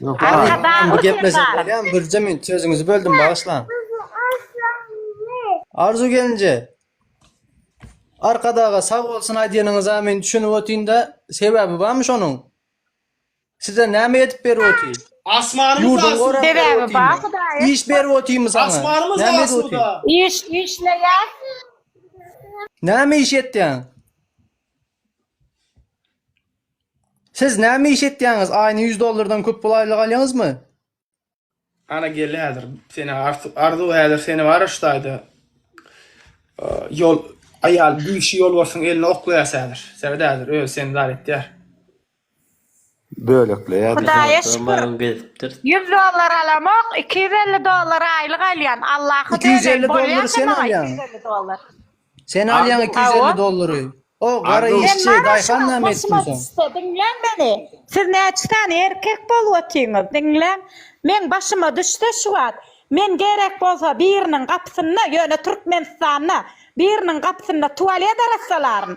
Yok, Arka ha, dağ bu gepleşik uçurlar. bolýan Bürje men sözüňizi böldüm bagyşlaň. Arzu gelinje. Arkadaga sag bolsun aýdýanyňyza men düşünip otyn-da, sebäbi barmy şonuň? Size näme edip berip otyn? Asmanymyz Ýurduň asuda. gorap Sebäbi berip bar otynmy? Hudaýa. Iş berip otynmy saňa? Asmanymyz Näme edip otyn? asuda. Iş işleýär. Näme iş etýäň? Siz näme iş etýäňiz? Aýyna ýüz dollardan köp pul aýlyk alýaňyzmy? Ana gel häzir seni Arzuw häzir seni bara şutaýda ýol aýal bigşi ýolbarsyň eline oklaýas häzir. Sebet häzir özi seni dar etýär. Hudaýa şükür, ýüz dollar alamok, iki ýüz elli dollar aýlyk alýan, Allaha döneýin, bolýarka maňa iki ýüz elli dollar. Diňläň meni, siz näçe sany erkek bolup otyňyz, diňläň, meň başyma düşse şu wagt, men gerek bolsa biriniň gapysynda, ýöne Türkmenistanda, biriniň gapysynda tualet arassalaryn,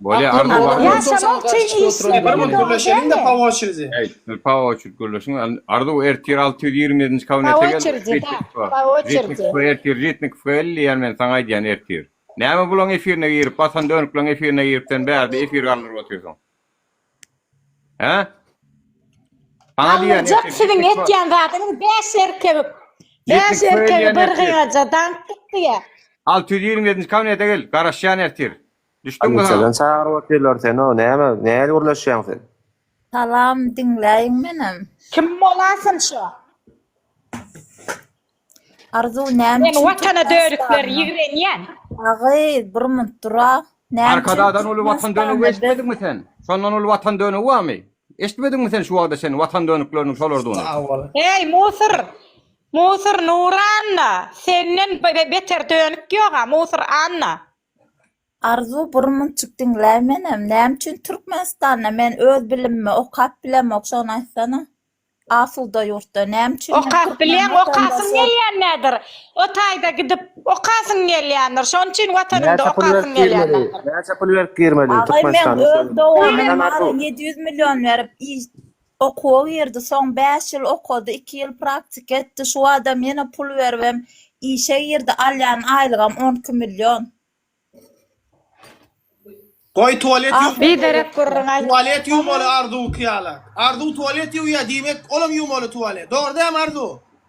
Bolýa Arda Aklymda bar. Ýaşamak üçin işlemeli dogry dälmi? Pawa oçridi. Eý, pawa oçridi gürleşiň. Arda bu ertir alty ýüz ýigrimi ýedinji kabinete gel. Ritnikowka ertir Ritnikowka gel diýýän men saňa aýdýan ertir. Näme bulaň efirine girip batan dönükleriň efirine girip sen bärde efir galdyryp otyrsyň. Hä? Saňa diýýän ertir. Galmajak siziň etýän zadyňyz bäş erkek. Bäş erkegi bir gyýaja daňyp gitdi. Alty ýüz ýigrimi ýedinji kabinete gel garaşýan ertir. Düşdüň mi ha. Çagyryp otyrlar seni näme nähili gürleşýäň sen. Salam diňläýiň menem. Kim bolasyn şo. Arzuw näme üçin. Men watana dörükler ýigrenýän. Agy bir munt dura. Arkadagdan uly watan dönügi eşitmediňmi sen. Şondan uly watan dönügi barmy. Eşitmediňmi sen şu wagda sen watan dönükleriniň şolardygyny. Eý musyr musyr Nuranna senden beter dönük ýoga musyr anna. Arzuw bir munçuk diňläý menem näme üçin Türkmenistanda men öz bilimimi okap bilemok şony aýtsana asuda ýurtda näme üçin men Okap türkmen bilýäň okasyň watandaşy gelýänädir o taýda gidip okasyň gelýändir şonuň üçin watanyňda Näçe pul berip okasyň girmeli? gelýänädir. Näçe pul berip girmeli Agay men Türkmenistana öz söyle. doganym Söyle lan Arzuw. ýedi ýüz million berip Okuwa girdi, soň bäş ýyl okady, iki ýyl praktika etdi, şu badam ýene pul beribem işe girdi, alýan aýlygam on iki million. Goý tualet Ah, ýuw. biderek gürrüň aýdyp. Tualet ýuwmaly Arzuwky ýaly. Arzuw tualet ýuwýar, diýmek, olam ýuwmaly tualet. Dogry dämi Arzuw?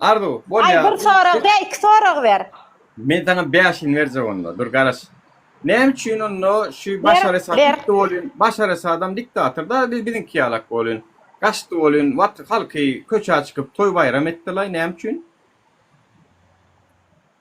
Arzuw, bolýa. Aý, bir sorag dä, iki sorag ber. Men saňa bäşini berjek onda, dur garaş. Näme üçin onda şu Başar Esad gitdi bolýun, Başar Esadam diktatorda, biz biziňki ýalak bolýun. Gaçdy bolýun, wat halky köçä çykyp toý-baýram etdilaý, näme üçin?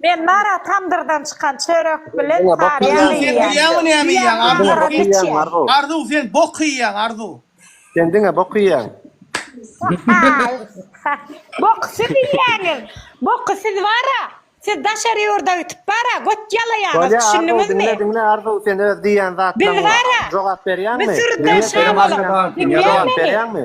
Men nara tamdyrdan çykan çörek bilen tarýa iýýän. Arzuw sen bok iýýäň Arzuw. Sen diňe bok iýýäň. Boky siz iýýäňiz. Boky siz bara. Siz daşary ýurda gitip bara göt ýalaýaňyz düşündiňizmi. Bolýa Arzuw diňle diňle Arzuw sen öz diýýän zatlaryňa jogap berýäňmi? Biz sürüden şa bolup diňleýäňmi?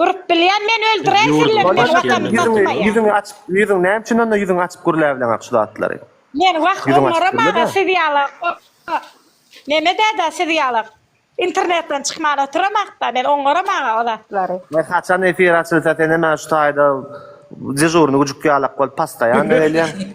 Durup bilýän men öldürän Ýurdum sillerini men başyny Watanymda Ýüzüňi, tutmaýan. ýüzüňi açyp, ýüzüň näme üçin onda ýüzüňi açyp gürläbileňok şu zatlary? Men wah Ýüzüňi açyp onlara gürle-de. maňa siz ýala Meme däde siz ýala internetden çykman otyramak-da men onlara maňa o zatlary. Ýa haçan efir açylsa sen hem şu taýda dežurny güjük ýalak bolup pastaýan gelýäň.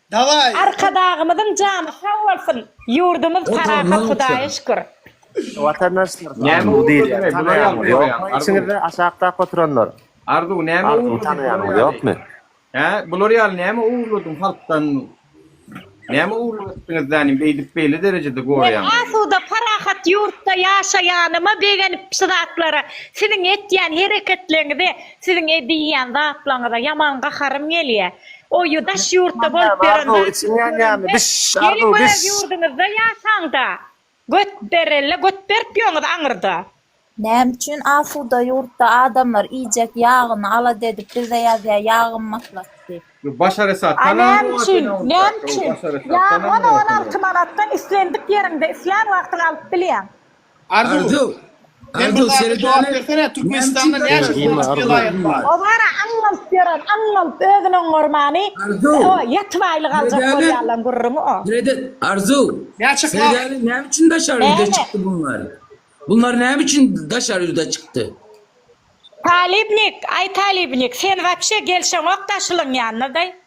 Daway. Arkadagymyzyň jany sag bolsun ýurdumyz parahat hudaýa şükür. Watandaşlar size Arzuw diýilýär tanaýaňyz ýokmy içiňizde aşakdaky oturanlar Arzuwy tanaýaňyz ýokmy. Hä bular ýaly näme ogurladyň halkdan näme ogurlyk etdiňiz zanim beýdip beýle derejede gorýaňyz. Biz asuda parahat ýurtda ýaşaýanyma begenip şu zatlara siziň etýän hereketleriňize siziň edýän zatlaryňyza ýaman gaharym gelýär Oýy daş ýurtda bolup ýöremda içiň ýanýamy biş arzuw biş. Gelip öz ýurduňyzda ýasaňda göt berelle göt berip ýöňiz aňyrda. Näme üçin asuda ýurtda adamlar iýjek ýagyny alada edip bize ýazýa ýag gymmatlat diýip. Bu Başar Esad tan aňryk Näme üçin näme üçin ýagy on on alty manatdan islendik ýeriňde islän wagtyň alyp bilýäň. Arzuw. Men bir zada jogap bersene, Türkmenistanda näçe durmuş welaýat bar? Owara aňňalt ýören aňňalt özün oňňarmany o ýatyp aýlyk aljak bolýarlan gürrüňi o. Arzuw. Näçe para? Seredäne näme üçin daşary ýüze çykdy bunlar? Bunlar näme üçin daşary ýüze çykdy? Talybnik, aý talybnik sen wapşe gelşeňok daşlyň ýanyna daý.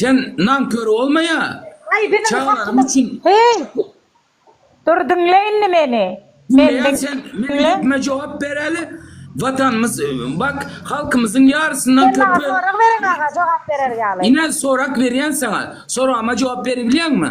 Sen nankör bolmaýa. Aý biziň Çagalarym hakkymyz. üçin. Heý! Dur diňle indi meni. Meni Diňleýän sen diňle. Menilikme jogap beräli. Watanymyz bak halkymyzyň ýarysyndan Sen maňa köpi. sorag beriň aga jogap berer ýaly. Ine sorak berýän saňa. Soragma jogap beribilýäňmi?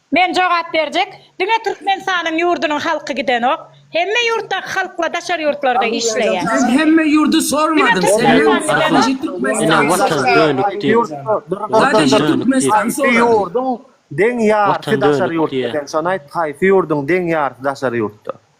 Men jogap berjek diňe Türkmenistanyň ýurdunyň halky gidenok. Hemme ýurtdaky halkla daşary ýurtlarda işleýä. Men hemme ýurdy sormadym sen men sadije Türkmenistany soradym. Sadije Türkmenistany soradym. Watan dönükdi. Watan dönükdi. Haýsy ýurdyň deň ýarysy daşary ýurtda? Haýsy ýurdyň deň ýarysy daşary ýurtda?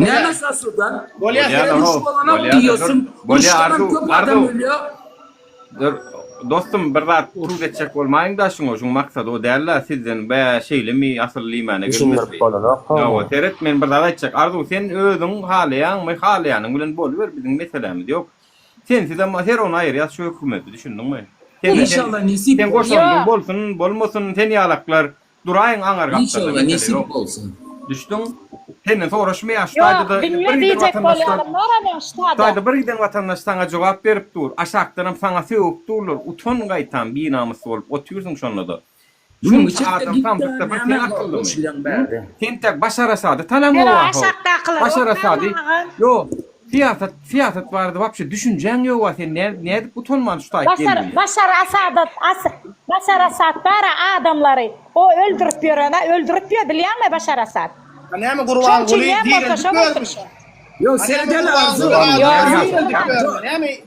Näme şaşyrdar? Duş bolana diýýärsiň. Duş bolan köp adam ölýär. Dur, dostum bir zat urup geçjek bolmaýyňda şuňa, şuň maksady o däl-de, sizden bä şeýlemi asyl liýmäne gelmezdi. Düşündirip bolanokmy? Hawa, seret men bir zat aýtjak. Arzuw sen özüň halaýaňmy? Halaýanyň bilen boluber biziň meselämiz ýok. Sensizem her ony aýyrýas şu hökümeti, düşündiňmi? Sen-de sen, sen goşandyň bolsun, bolmasyn, sen ýalaklar Duraýyň aňar gapdalda mesele ýok. Inşallah nesip bolsun. Düşdüň? Senden soraşmaýan şu taýda-da bir giden watandaşdan. Ýok, bilme diýjek bolýanym bar emma şu taýda. Taýda bir giden watandaş saňa jogap berip dur. Aşakdanam saňa sögüp durlar. Utan gaýtam binamys bolup otyrsyň şonda-da. Şunça adam samsykda bir sen akyllymy? Sen tek Başar Asady tanamyňa wahow. Başar Asady. Ýok. Syýasat syýasat barada wapşe düşünjäň ýoga sen nädip utanman tutaýyp geldiň. Başar Asadat Başar Asad bara adamlary o öldürip ýörene öldürip ýör bilýäňmi Başar Asad. A näme Gurbanguly dirildik görmüş. Ýok seredeli Arzu. Ýok.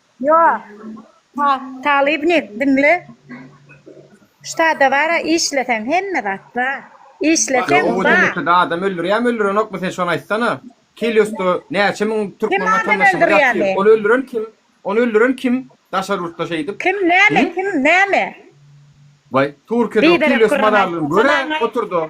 Ýo, ta, Talybnik, diňle. Ştada bar-a, işleseň, hemme zat bar. Ýo, Işleseň, oňa bar. deňeçede adam öldürýärmi, öldürenokmy, sen şony aýtsana. Keliosda näçe müň Kim türkmen adam watandaşymyz ýatyr. öldürýärmi? Ony öldüren kim? Ony öldüren kim, daşary ýurtda şeýdip? Kim, näme, Hüm? kim, näme? Waý, Türkiýede o Biderek Kelios gürrüň mazarlygyny aýtma, görä, tamam aýt. oturda.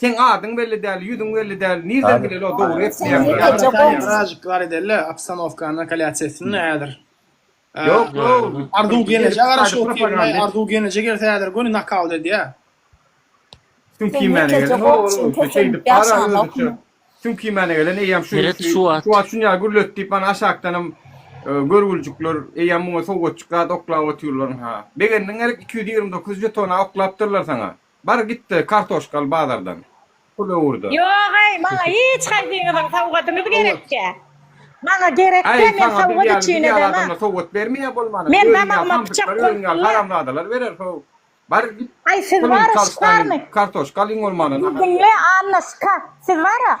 Seň adyň belli däl, ýüzüň belli däl, nirden bileli o dogry etmeýäňmi ýa. Mrazjiklar edeli obstanowka nakalýasiýasyny häzir. Ýok ýok. Arzuw gelneje garaşyp otyrmy? Arzuw gelneje gelse häzir göni nakaut edýä. Tüm kimmäne gelen o ol şeýdip bara özüçe. Tüm kimmäne gelen eýýäm şu şu wagt şunýa gürlet diýip mana aşakdanam görgüljikler eýýäm muňa sowgatjyk zat oklap otyrlaryň ha. Begendiň gerek iki ýüz ýigrimi dokuz žetona oklapdyrlar saňa. Bar gitde kartoşkaly bazardan pul öwürde. Ýogaý maňa hiç haýsyňyzyň sowgadyňyz gerekkä. Maňa gerekkä men sowgat üçin edema. Men damagyma pyçak goýupdymla. Aý siz bara şykarmy? Diňle Annaşka siz bara.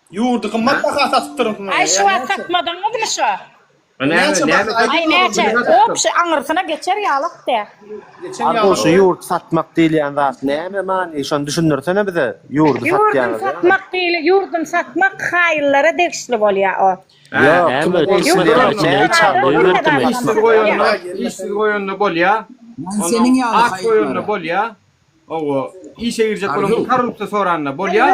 Ýurdy gymmat baha satypdyryňsyň. Aý şu wagt satmadyňyzmy şo. Näçe baha aýdyň. Aý näçe hop şu aňyrsyna geçer ýalak de. Arzuw şu ýurt satmak diýilýän zat näme many şony düşündirsene bize ýurdy satýan. Ýurdy satmak diýilýär ýurdy satmak haýyllara degişli bolýa o. Işsiz goýanda bolýa. At goýanda bolýa. Hawa, işe girjek boluň her ruksa soranda bolýa.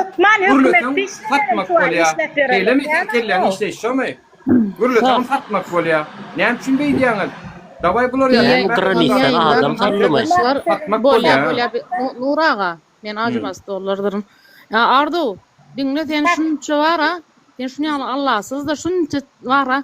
Gürleseň satmak bolýa. Şeýlemi seň kelläň işleýşi şomy? Gürleseňem satmak bolýa. Näme üçin beý diýýäňiz? Dawaý bular ýaly Diýýän programmistan adam sandymy? Satmak bolýa. Bolýa bolýa Nury aga men ajybas dollardyryn. Arzuw diňle sen şunça bara sen şuny ýaly Allasyzda şunça bara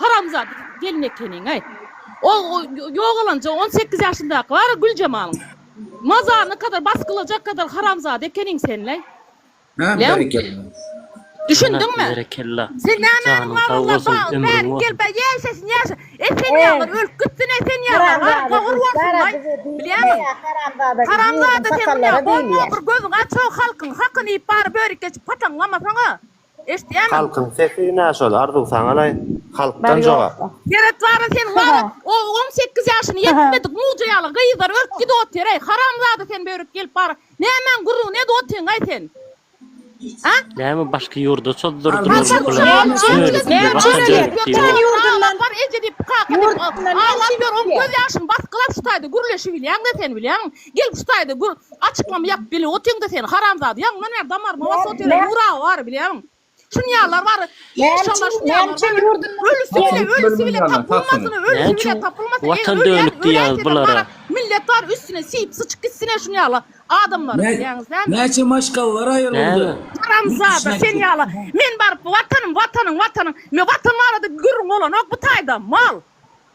Haramzada gelin ekeniňaý. Ol ýogalanja on sekiz ýaşyndaky bar-a Güljemalyň. Mazaryna kadar basgylajak kadar haramzada ekeniň senleý. Düşündiňmi? Berekella. Sen nämäniň Janyň sag wara bolsun, labaň ömrüň bärik bolsun. gelip ýäşesin ýaşa. Esen ýaňlar ölüp gitsin esen ýaňlar bar gowyr bolsunlaý. Bilýäňmi? Haramzada sen munýa goýma bir gözüň açog halkyň hakyny iýip bary börek geçip pataňlamasaň-a. Eşdýäňmi? Halkyň sesi nä şol Arzuw saňalaý halkdan jogap. Seret bara sen wagt on sekiz ýaşyny ýetmedik muja ýaly gyzlar örüp gidip otyreý haramzada sen börek gelip bara nämäň gürrüňini edip otyňaý sen a. Näme başga ýurda çozdurdylar bu pulary. Gel şu taýda gür açyklama ýap bile otyňda sen haramzada ýaňyňdan bäri damaryma basy otyr nur awa bary bilýäňmi şuny ýalylar bary inşallah şuny ýalylar bary ölüsi bile ölüsi bile tapylmasyn ölüsi bile tapylmasyn eý ölýän ölýän seni bary millet bary üstüne siýip syçyp gitsin eý şuny ýaly adamlary bilýäňiz dämi näçe maşgalalar aýryldy haramzada seni ýaly men baryp watanym watanyň watanyň men watan barada gürrüň bolanok bu taýda mal.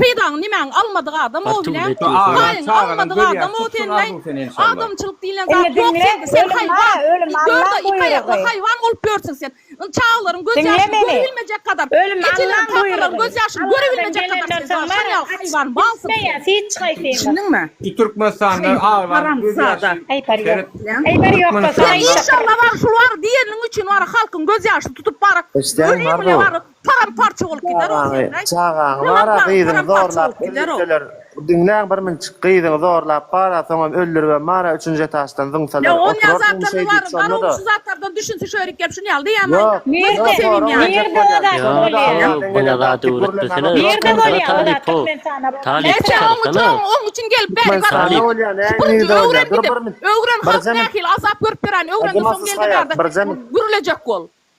Peýdaňy nimäňi almadyk adam o bile. Paýyňy almadyk adam o senle. Adamçylyk diýlen zat ýok sende sen haýwan. Görde iki aýakly haýwan bolup ýörsün sen. Indi çagalaryň göz ýaşyny görebilmejek gadar. Ejeleriň kakalaryň göz ýaşyny görebilmejek gadar sen şoňa şonýaly haýwan malsyň sen. Düşündiňmi? Şu Türkmenistanly aglanyň göz ýaşy seret. Sen inşallah bar şul bar diýeniň üçin bar halkyň göz ýaşyny tutup bar. Öliň bile bar. Param parça bolup gider o Sergaý. Çagaňy bar-a gyzyňy zorlap öldürseler diňläň bir minçik gyzyňy zorlap bar-a soňam öldüribem bar-a üçünji etaşdan zyňsalar oturarsyň şeýdip şonda-da. Şu zatlardan düşünse şu ýerik gelip şuny ýaly diýäýmäýin-dä. Nirde? Nirde o zat bolýa? Ýok muňa zat öwretmesene. Nirde bolýa o zatlar men sana bolýa. Näçe oň üçin oň üçin gelip bäri barýan. Süpüriji öwren gidip. Öwren halk nähili azap görüp ýöräýeni öwren soň gel-de bärde gürlejek bol.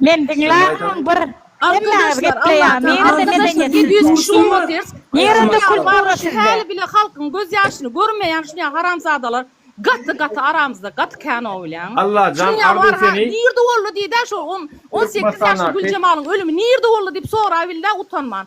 Men diňläýmem bir Hemmäňiz gepleýär nirede medeniýet nirede kultura sizde häli bile halkyň göz ýaşyny görmeýän şunyä haramzadalar gaty gaty aramyzda gaty kän o bilýäňiz Allajan arzuw seni nirede boldy diýdä şo on sekiz ýaşly güljemalyň ölümi nirede boldy diýip soraýbildä utanman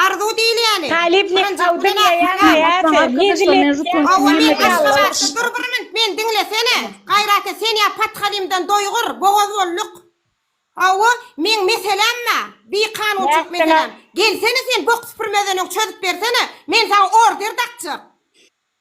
Arzuw diýilýäni. Talyp ne kawdy ne ýaýaň aýaty, menzil etýän ýaňy ýallyk. Dur bir minut meni diňlesene. Gaýraty sen ýa pathalymdan doýgur, bogaz bolduk. Hawa, meň meseläm bar, bikanunçylyk meseläm. Gelsene sen bok süpürmezden öň çözüp bersene, men saňa order dakjak.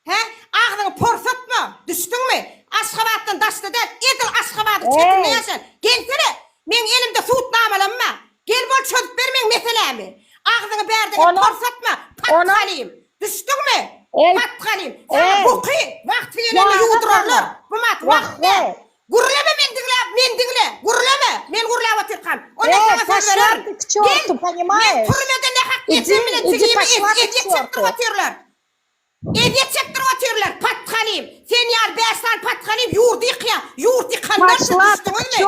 Hä? Agzyňy porsatma! Düşdüňmi? Aşgabatdan daşda däl, edil Aşgabadyň çetinde Eý! ýaşan. Gelsene! Meň elimde sud namalamma. Gel bol çözüp ber meň meselämi. Agzyňy bärde gep Onam. porsatma! Onam. Patgalim! Düşdüňmi? Eý! Patgalim! Saňa Eý! buky wagty gelende Ýaga ýuwdurarlar! saňa! Bu mat Wah, wagt däl! we! Gürleme men diňläp, men diňle! Gürleme! Men gürläp otyrkam. Onam Eý, saňa söz taşlar bererin. ty k Gel! çortu, Men poнимaješ? türmede nähak Idi, ýetsem bilen idi, tigiýimi taşlar et, ty et ýetişip çortu. durup otyrlar. Ezýet çekdirip otyrlar. Pathalim, sen ýaly bäş sany pathalim ýurdy ýykýa. Ýurt ýykandan üçin düşdüňizmi?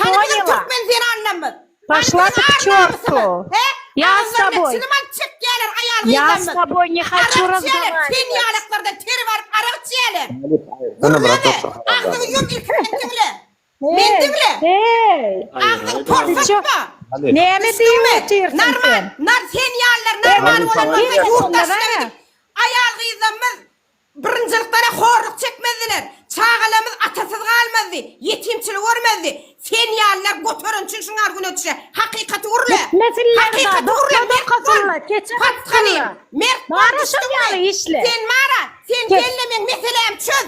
Hany biziň türkmen zenanlamyz? Hany biziň ar-namysyňyz? He? Agyzlaryna çilim alyp çekýäler aýal-gyzlarymyz. Arak içýäler, ten ýalaklardan teri baryp arak içýäler. Gürleme, agzyňy ýum ilki sen diňle. Men diňle. Heý. Agzyňy porsatma. Näme diýip otyrsyň sen? Nar sen ýalylar normal bolan bolsa ýurt daşyna aýal gyzlarymyz birinjilikdana horluk çekmezdiler. Çagalarymyz atasyz galmazdy. Ýetimçilik örmezdi. Sen ýalylar göteren üçin şuňa argune düşe. Hakykaty urle. Hakykaty urle. Dokasylla. Keçe gatylla. Mara şol ýaly işle. Sen mara. Sen gelnemeň meselämi çöz.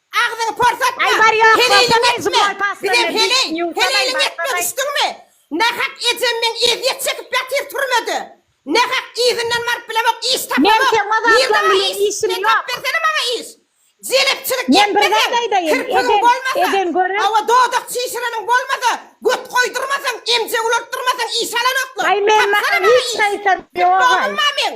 Agzyňy porsatma, heleýliň etme, bizem heleý, heleýliň etme düşdüňmi? Nahak ejem meň ezýet çekip ýatyr türmede. Nahak yzyndan baryp bilemok, iş tapamok. Bir zat iş, metap bersene maňa iş. Jelepçilik etmeseň, kirpigiň bolmasa, hawa dodak çişireniň bolmasa, göt goýdurmasaň, emjek ulaltdyrmasaň iş alanoklar. Tapsana maňa iş. Pit bogdumma men?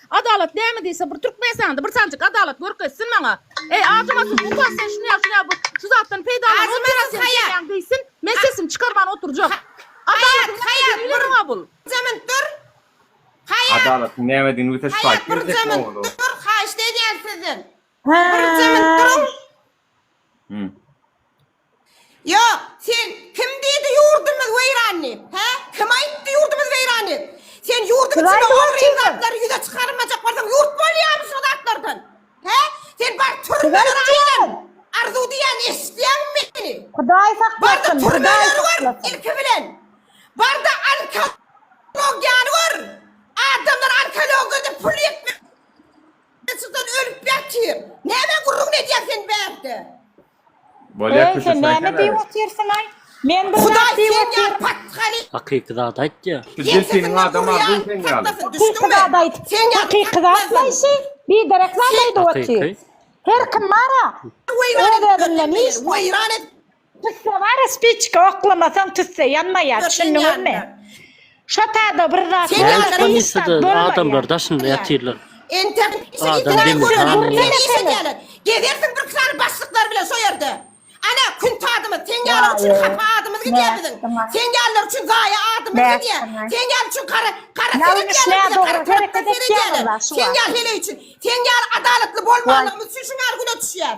Adalat näme diýse bir Türkmenistanda bir sanjyk adalat görkezsin maňa. Eý Azymasyz ukas sen şuny ýap şuny ýap şu zatdan peýdalan otyrka sen gelýäň diýsin men sesimi çykarman oturjak. Adalatyň näme diýeni bilerin maňa bul. Zämin dur Haýat. Adalatyň nämedigini bize şu aýt gerizek oglu. Haýat bir zämin dur haýyşt edýän sizden bir zämin duruň. Ýok, sen kim diýdi ýurdumyz weýran diýip? Hä? Kim aýtdy ýurdumyz weýran diýip? Sen ýurduň Siz içinde aýdyňyz ogryň kimdir? zatlary ýüze çykarmajak bolsaň ýurt bolýarmy şo zatlardan? Hä? Sen bar Siz türmelere aýtjyň! aýlan. Arzuw diýýän eşitýäňmi meni? Hudaý Barda saklasyn, Hudaý türmeleri gör saklasyn. ilki bilen. Barda onkologiýany gör. Adamlar onkologiýada pul ýetmezçilikden ölüp ýatyr. Näme gürrüňini edýäň sen bärde? Bolýa Eý, sen näme diýip otyrsyň-aý? Men bir zat diýip otyryn. Hakyky zat aýtýa. Delfiniň adam arzuw sen ýaly. Hakyky zat aýt. Hakyky zat naýsy? Biderek zat aýdyp otyr. Her kim bar-a. Öz özünden hiç zat. Tüsse bar-a spiçka oklamasaň tüsse ýanmaýar, düşündiňizmi? Şu taýda bir zat Sen Nädip ýaly hiç zat komissiýada bolmaýar. adamlar daşynda Bolýar. ýatyrlar? Entek şu Adam itilen demir bolýar, hanyň gurruna ýaly. işe gelip. Gezersiň bir sany başlyklar bilen şo ýerde. Ana, kün tadymyz, sen ýalylar üçin Waýy, hapa adymyz gidýär biziň. nätdiňä. Sen ýalylar üçin zaýa adymyz gidýär. Nätdiňä. Sen ýaly üçin gara, gara Ýalňyş, seredýärler bize, gara nädogry tarapdan hereket etýäň seredýärler. walla şu Sen wagt. ýaly heleý üçin, sen ýaly adalatly Waý. bolmanlygymyz üçin şuňaly güne düşýär.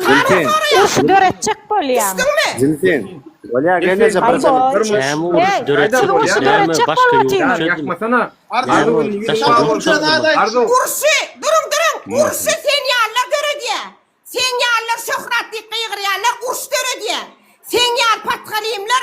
Zülpin. Urşy döretjek bolýaň. Zülpin. Bolýa gelneje bir jylyk durmuş. Näme urşy döretjek bolýaň näme başga ýurt çözülmedi. Urşy duruň duruň urşy sen ýalylar döredýä. Seň ýalylar şöhrat diýip gygyrýanlar urş döredýä. Seň ýaly patgalimler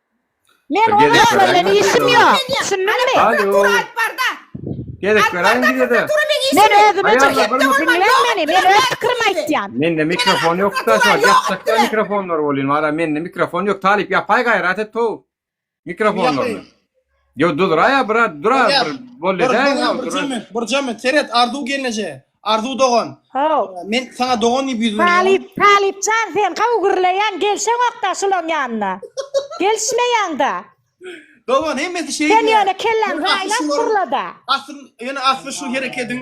Men Bir gezek onuň bilen göräýiň. işim ýok. Düşündiňmi? Alo. Gezek beräýiň bize-de. Men özüme Aýal jogap bir ber. musulman Diňläň meni. Men öz pikirimi aýtýan. Mende mikrofon ýokda şu wagt ýapjakda mikrofonlar bolýan wara mende mikrofon ýok talyp ýapaý gaýrat et how mikrofonlaryny. Yo duzraýa brat, dura Ýa, bir bol Bir, edäýiň bir, haw, bir dura. cömüň, bir cömüň. Seret, Arzuw gelneje. Arzuw dogan. Haw. Men saňa dogan diýip ýüz berýän. Talyp, Talypjan sen haw gürleýäň, gelşeňokda şulaň ýanyna. Gelişmeýäňda. Dogan hemmesi şeýdýär. Sen ýöne kelläň Ýöne asly raýlap şular- gürlede. Asl, ýöne asly şu herekediň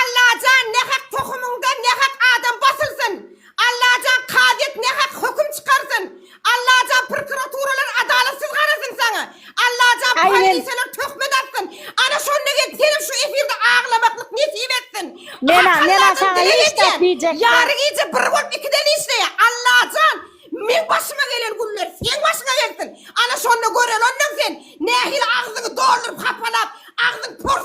Allajan nähak tohumyňdan nähak adam basylsyn Allajan kazyýet nähak höküm çykarsyn Allajan prkuraturalar adalatsyz garasyn saňa Allajan polisiýalar töhmet atsyn ana şonda gelip senem şu efirde aglamaklyk nesip etsin Ak Alladan dileg edýän ýary gije bir bolup ikiden işleýä Allajan meň başyma gelen günler seň başyňa gelsin ana şonda görelonaň sen nähili agzyňy dolduryp hapalap agzyň pors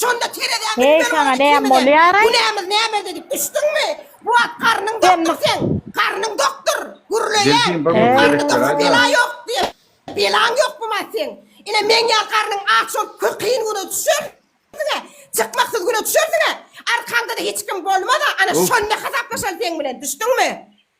Şonda terezäni Heý, biber saňa bolup näme temeden, bolýar-aý? Günämiz nämede diýip düşdüňmi? Bu wagt garnyň Sen dokdur mus- seň, garnyň dokdur, gürleýäň. Delfin bag He. Garnyň Berekler, dokdur, aýda. bela ýok diýip. Belaň ýokmyma seň? Ine, meň ýaly garnyň aç bolup kü- kyn güne düşersiň-ä, çykmaksyz güne düşersiň-ä. Arkaňda-da hiç kim bolmaz-a, ana Of. şonda hasaplaşaly seň bilen, düşdüňmi?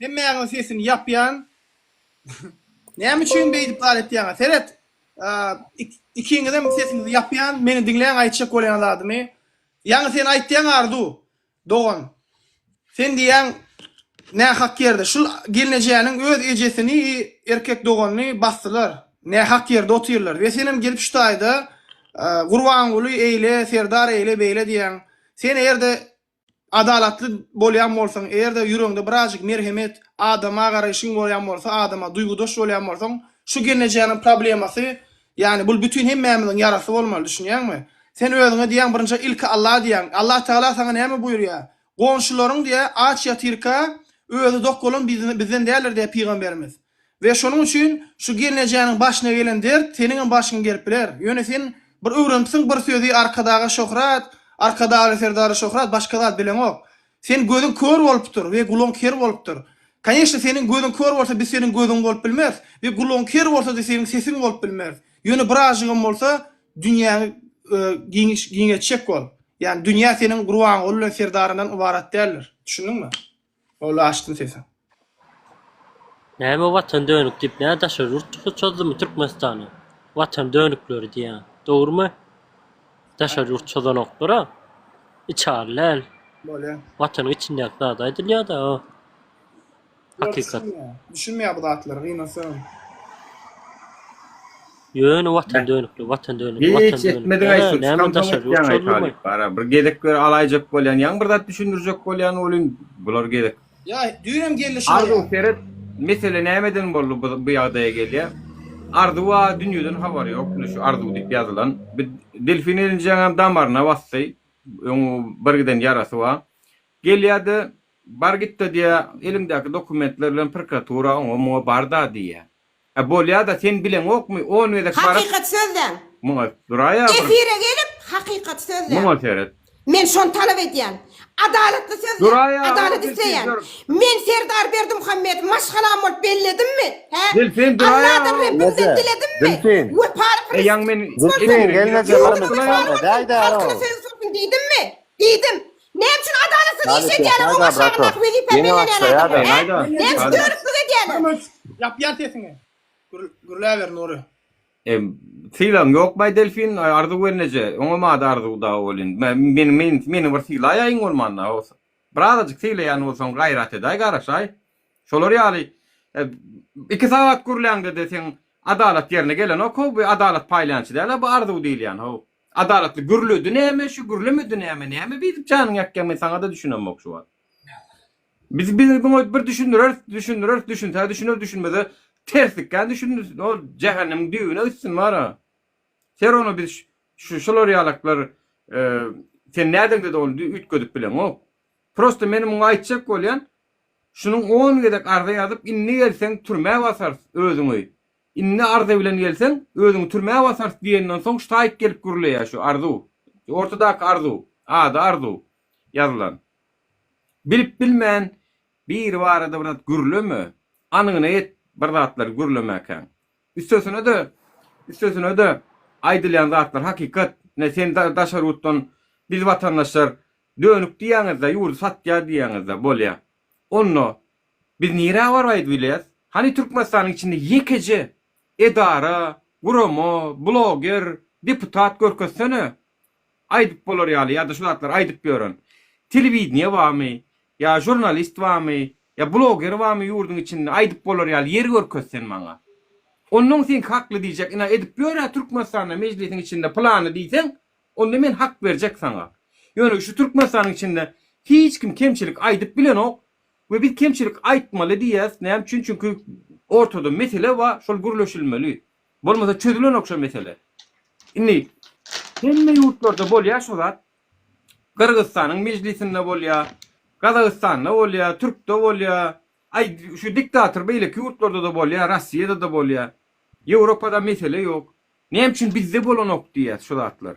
Hemmäňiň sesini ýapýan. Näme üçin beýdip zat etýäňä seret. Ikiňizem sesiňizi ýapýan, meni diňläň aýtjak bolýan zadymy. Ýaňy sen aýtýaň Arzu dogan. Sen diýýäň nähak ýerde şul gelnejäniň öz ejesini i erkek doganyny basdylar. Nähak ýerde otyrlar. We senem gelip şu taýda Gurbanguly eýle, Serdar eýle beýle diýýäň. Sen eger-de Adalatly bolýan bolsaň, eger-de ýüregiňde birazjyk merhemet, adama garaýşyň bolýan bolsa, adama duýgudaş bolýan bolsaň, şu gelnejäniň problemasy, ýagny bul bütin hemmämiziň ýarasy bolmaly, düşünýäňmi? Sen özüňe diýýäň, birinji ilki Alla diýýäň. Allatagala saňa näme buýurýar? Goňşularyň diýýär, aç ýatyrka, özi dok bolan bizden däldir diýýär pygamberimiz. We şonuň üçin şu gelnejäniň başyna gelen dert seniňem başyňa gelip biler. Ýöne sen bir öwrenipsiň bir sözi Arkadaga şöhrat, Arkadagly Serdary şöhrat başga zat bileňok. Sen gözüň kör bolupdyr we gulagyň ker bolupdyr. Kaneşne seniň gözüň kör bolsa biz seniň gözüň bolup bilmeris we gulagyň ker bolsady seniň sesiň bolup bilmeris. Ýöne birazjygam bolsa dünýäňi giňetjek bol. Ýagny dünýä seniň Gurbanguly bilen Serdaryndan ybarat däldir. Düşündiňmi? Ol açdy sesi. Näme watan dönük diýip nä daşary ýurt çykyş çozdumy Türkmenistana? Watan dönükleri diýýän. Dogrumy? Daşary ýurt çozanoklar-a. Içaly däl. Bolýa. Watanyň içindäki zady aýdylýa-da. Hakykat. Düşünmeýär bu zatlary gynasam. Ýöne watan dönükli, watan dönükli, watan dönükli. Hiç etmedik aý şu. Näme daşary ýurt şolmy? Bara bir gezek gör alaýjak bolýan. Ýaňy bir zat düşündirjek bolýan welin bular gezek. Ýa düýnem geldi şaýa. Arzuw seret mesele nämeden boldy bu bu ýagdaýa gelýär. Arzuwa dünýeden habary ýok. Indi şu arzuw diýip ýazylan. Bir delfin elinjeňem damaryna basdy. Öň bir giden ýarasy bar. Gelýär-de bar gitde diýýär. Eliňdäki dokumentler bilen prokuratura oňa muňa barda diýýär. Hä bolýada sen bileňokmy on gezek baryp. Hakykat sözläň. Muňa duraýa bir. Efire gelip hakykat sözläň. Muňa seret. Men şony talap edýän. Adalatly sözläň. Duraýa adalat isleýän. Men Serdar Berdimuhamedow maşgalam bolup belledimmi? Hä? Dilsin duraýa. Alladan Rebbimden diledimmi? Dilsin. Wepaly kyrgyz. Eýaň men efire girip ýörün. Ýurdumyz barmasa däýdäro. Halkyna söýgi sorsun diýdimmi? Diýdim. Näme üçin adalatsyz iş Lanet edýäler, ýapmaý-da, oňa brato. şanyndaky wezipe Ýeňe bellenýän başlaýa-da. adamlar, hä? Ýeňäý-da, Näme üçin Ýeňäý-da. dörüklik edýäler? Kömüs, ýapýan sesiňi. Gür, gürläber Nury. E, sylagyň ýokmaý Delfin, e, Arzuw gelneje, oňamady Arzuw dagy bol indi. Me, meni, men, meni bir sylaýaýyň bolmanda, o, birazajyk sylaýan bolsaň gaýrat edäý, garaşaý. Şolar ýaly, e, iki sagat gürläňde-de seň adalat ýerine gelenok-how, bu adalat paýlançy däl-a bu Arzuw diýilýän, how. Adalatly gürledi näme şu gürlemedi näme näme beýdip janyňy ýakýaň men saňada düşünemok şu wagt. Biz biz muňa bir düşündireris düşündireris düşünse düşüner düşünmese terslikden düşündiris o jähennemiň düýbüne gitsin bara. Ser ony biz şu şular ýalaklar sen nädeňde dogul üýtgedip bileňok. Prosta meni muňa aýtjak bolýan şunuň on gezek arza ýazyp indi gelseň türmä basarys özüňi. Indi Arza bilen gelseň, özüňi türmä basarys diýenden soň ştaýk gelip gürleýär şu Arzu. Ortadaky Arzu. Ady Arzu. Ýazylan. Bilip bilmän biri barada bir zat gürleme. Anygyna ýet bir zatlary gürlemäkäň. Üstesine-de, üstesine-de aýdylýan zatlar hakykat. Ine sen daşary ýurtdan biz watandaşlar dönük diýýäňiz-de, ýurdy satýar diýýäňiz-de, bolýa. Onda Biz nirä baraýdy bileris? Hany Türkmenistanyň içinde ýekeje edara, gurama, bloger, deputat görkezsene, aýdyp bolar ýaly ýa-da şu zatlary aýdyp ýören. Telewideniýe barmy? Ýa žurnalist barmy? Ýa bloger barmy ýurduň içinde aýdyp bolar ýaly ýer görkez sen maňa. Onnoň seňki hakly diýjek ina edip ýör-ä Türkmenistanda mejlisiň içinde pylany diýseň onda men hak berjek saňa. Ýöne şu Türkmenistanyň içinde hiç kim kemçilik aýdyp bilenok, We biz kemçilik aýtmaly diýýäs, näme üçin? Çünki ortada mesele bar, şol gürleşilmeli. Bolmasa çözülenok şo mesele. Indi hemme ýurtlarda bolýar şo zat. Gyrgyzystanyň mejlisinde bolýar, Gazagystanda bolýar, türkde bolýar. Aý, şu diktator beýleki ýurtlarda-da bolýar, Rossiýada-da bolýar. Ýewropada mesele ýok. Näme üçin bizde bolanok diýýäs şo zatlar.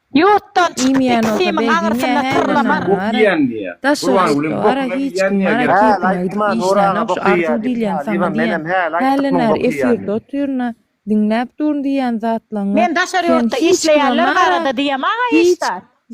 Ýurtdan çykyp iki simiň aňyrsyna syrlamar. Daşarykda bara hiç kim bara kepine gidip işlänok şu arzuw diýilýän saňa diýen hälden bäri efirde otyryn-a diňläp duryn diýýän zatlaňňy sen hiç kime mara hiç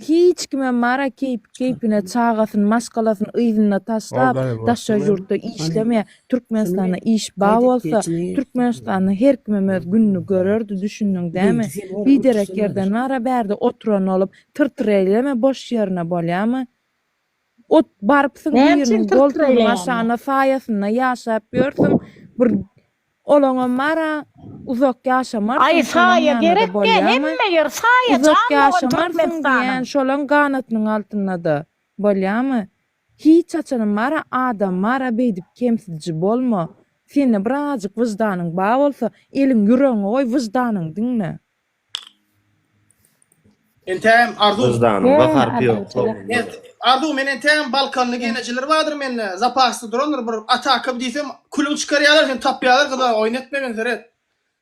hiç kime mara keýpi keýpine çagasyn maşgalasyn yzynda taşlap daşary ýurtda işlemeýä Türkmenistanda iş ba bolsa Türkmenistanda her kimem öz gününi görerdi düşündiň dämi biderek ýerden wara bärde oturan bolup tyr tyr eýleme boş ýerine bolýamy ot barypsyň biriniň goltugynyň aşagynda saýasynda ýaşap ýörsüň bir olaňam bara uzak ýaşamarsyň aý saýa gerekdä hemme ýer saýa jan bolan Türkmenistan şolaň ganatynyň altyndada bolýamy Hiç haçanam mara adam mara beýdip kemsidiji bolma. Sende birazajyk wyždanyň bar bolsa, eliň ýüregiňe goý wyždanyňy diňle. Entägem Arzuw. Wyždanyň we harpy ýok soňunda. Arzuw men entägem balkanly genejeler bardyr mende zapasda durandyr bir ataka diýsem külüň çykarýalar seni tapýalar gyza oýun etmegin seret.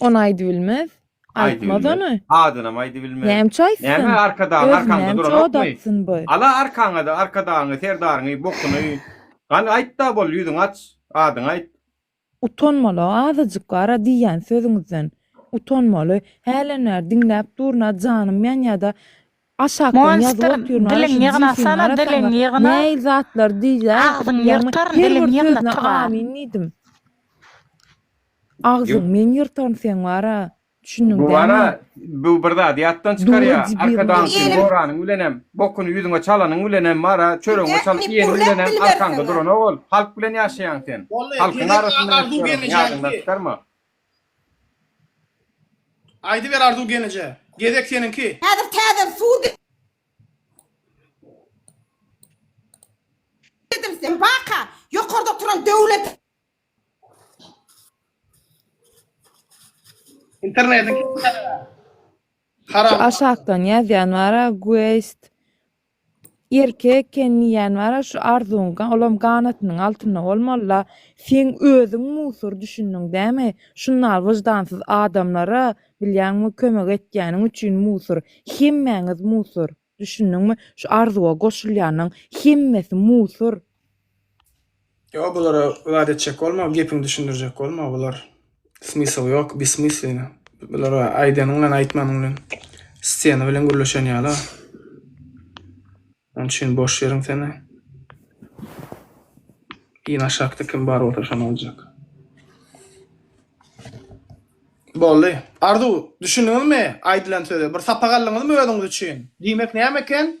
Ony aýdybilmez. Aýtmaz ony. Adynam aýdybilmez. Nämçe aýtsyn? Näme Arkadagyň arkaňda duran okmy? Ala arkaňa-da Arkadagyňy, Serdaryňy, bokuny. Gani aýt-da bol, ýüzüňi aç, adyňy aýt. Utanmala azajyk gara diýýän sözüňizden. Utanmaly. Hälenbäri diňläp durun-a janym ýanýa-da Aşakdan ýazyp otyr aý şu cifyň arasana näil zatlar diýýä ýagny her bir sözüne amin diýdim. Agzyň men ýyrtaryn seň bara düşündiň dämi. Bu bara bu bir zady ýatdan çykarýa arkadagsyň goranyň bilenem bokuny ýüzüňe çalanyň bilenem bara çöregiňe çalyp iýeniň bilenem arkaňda duranok ol halk bilen ýaşaýaň sen halkyň arasynda ýaşaýaň ýadyňdan çykarma. Aýdyber Arzuw genije. Gezek seniňki. Häzir täzeden suw girdim sen baka ýokarda oturan döwlete. Internetiň Şu aşakdan ýazýan bara guest Erkek eken diýýän bara şu arzuň olam ganatynyň altynda bolmalyda seň özüň musur düşündiň dämi şunal wyždansyz adamlara bilýäňmi kömek etýäniň üçin musur hemmäňiz musur düşündiňmi şu arzuwa goşulýanyň hemmesi musur. Ýok, bulara zat etjek bolma, gepiňi düşündirjek bolma, bular smysl ýok, besmyslina. Bulara aýdanyň bilen aýtmanyň bilen stena bilen gürleşen ýaly. Onun için boş yerin seni. Yine aşakta kim bar olsa şan olacak. Bolly. Arzu, düşündüňiz mi? Aydylan söze. Bir sapak aldyňyz mı özüňiz üçin? Diymek neyem eken?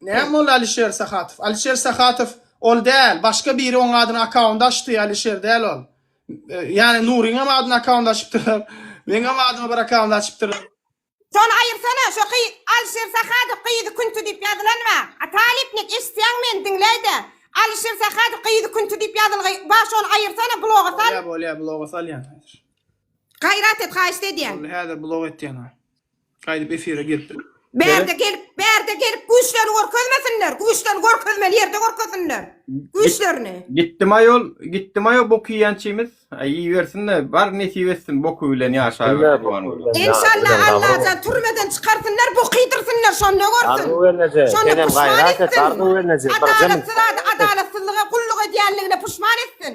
Näme boldy Alişer Sahatow? Alişer Sahatow ol däl, başga biri oň adyna akkaunt açdy, Alişer däl ol. Ýani Nuryňam adyna akkaunt açypdyrlar. Meňem adyma bir akkaunt açypdyrlar. Şony aýyrsana şo ky Alişer Sahatow gyzy künti diýip ýazylan ba a Talypnik eşitýäňmi meni diňleýde Alişer Sahatow gyzy künti diýip ýazylgy ba şony aýyrsana bloga sal. Bolýa bolýa bloga salýan häzir. Gaýrat et haýyşt edýän. Boldy häzir blog etýän. Gaýdyp efire giripdir. Bärde gelip, bärde gelip güýçlerini görkezmesinler, güýçlerini görkezmeli ýerde görkezsinler güýçlerini. Gitdim aýol, gitdim aýol bok iýençimiz. Aý iýibersin-de, bar nesip etsin boky bilen ýaşaber Gurbanguly. Enşalla Allajan türmeden çykarsynlar bok iýdirsinler şonda görsün. Şonda puşman etsin. Adalatsyz zady adalatsyzlyga gulluk edýänligine puşman etsin.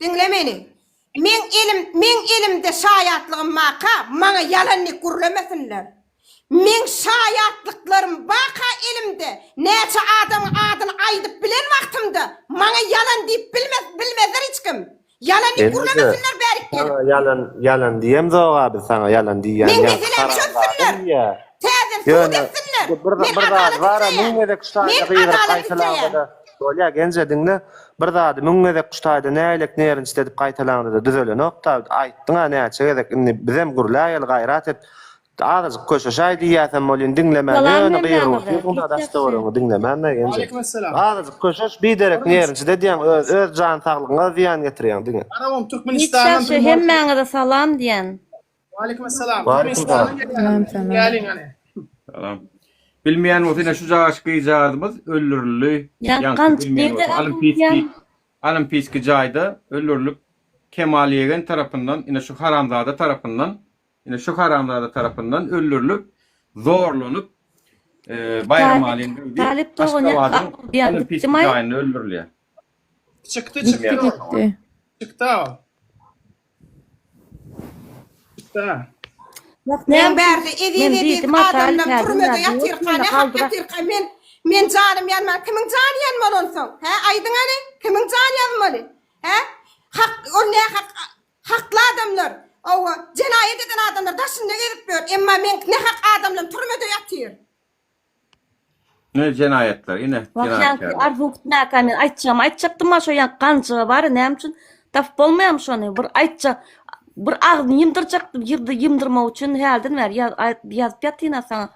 Diňle meni. Meň elim, meň elimde şaýatlygym baka, maňa ýalanlyk gürlemesinler. Meň şaýatlyklarym baka elimde, näçe adamyň adyny aýdyp bilen wagtymda, maňa ýalan diýip bilmez, bilmezler hiç kim. Ýalanlyk gürlemesinler bärik gelip. Saňa ýalan, ýalan diýemzog-a biz saňa, ýalan diýýän Meň ýaňky meselämi haram zady çözsünler. diýýä. Täzeden sud Ýöne, etsinler. bir, bir, Men bir zat adalat bar-a, isleýän. müň gezek şu taýda Men gygyryp adalat isleýän. gaýtalanda-da, Bolýa Genje diňle bir zady müň gezek şu taýda näýlek nerinçli edip gaýtalaňdada düzelenokda aýtdyňa näçe gezek indi bizem gürläýeli gaýrat et azajyk köşeşaý diýýäsem bolýyn diňlemän Salam ýöne Merdan gygyryp aga, otyrsyňda git ýagşy. daştöweregiňi diňlemända Genje Waleýkim essalam. azajyk köşeş biderek nerinçli edýäň öz öz jan saglygyňa zyýan getirýäň diňe. Arabam Git Türkmenistandan ýagşy, hemmäňize salam diýen. Waleýkim assalam. Waleýkim salam. Salam salam. Geliň hany. Salam. Bilmeýän bolsa ine şu jaş gyzjagazymyz öldürildi. Ýaňky bilmeýän bolsa Olimpiýski Olimpiýski jaýda öldürilip Kemal ýegen tarapyndan ine şu haramzada tarapyndan ine şu haramzada tarapyndan öldürilip zorlanyp Baýram Alin Talyp dogany Olimpiýski jaýynda öldürilýär. Çykdy çykdy. Çykdy. Usta. Men bärde eziz eziz adamlar türmede ýatyrka ne hak ýatyrka men men janym ýanman kimiň jany ýanmaly onsoň hä aýdyň hany kimiň jany ýanmaly hä hak ol ne hak hakly adamlar owa jenaýat eden adamlar daşynda gezip ýör emma men ne hak adamlar türmede ýatyr. Ne jenaýatlar ine jenaýatkärler. Arzuw gitmäkäni aýtjagym aýtjakdym ha şo ýan ganjyga bary näme üçin tapyp bolmaýamy şony bir aýtjak bir agzyny ýymdyrjakdym ýyrdy ýymdyrmak üçin hälden bäri ýazyp ýatynha saňa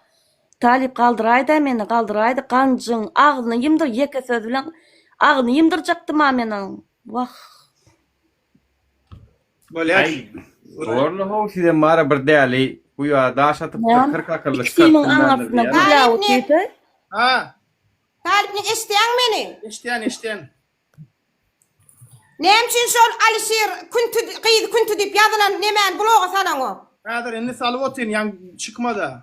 Talyp galdyraýda meni galdyraýda ganjyň agzyny ýymdyr ýeke söz bilen agzyny ýymdyrjakdym ha men onuň wah. Bolýar. Gorly how sizem mara bir däli bu ýa daş atyp Näme? kyrk akylly Ikisiniň çykartdym ben arasyna diýýän. gül ýagy süýse. Ha, Talypny eşitýäň meni? eşdän, eşdän. Näme üçin şol Alyşir Künti gyz Künti diýip ýazylan nemäni bloga salaňok? Häzir indi salyp otyryn, ýaň çykmada.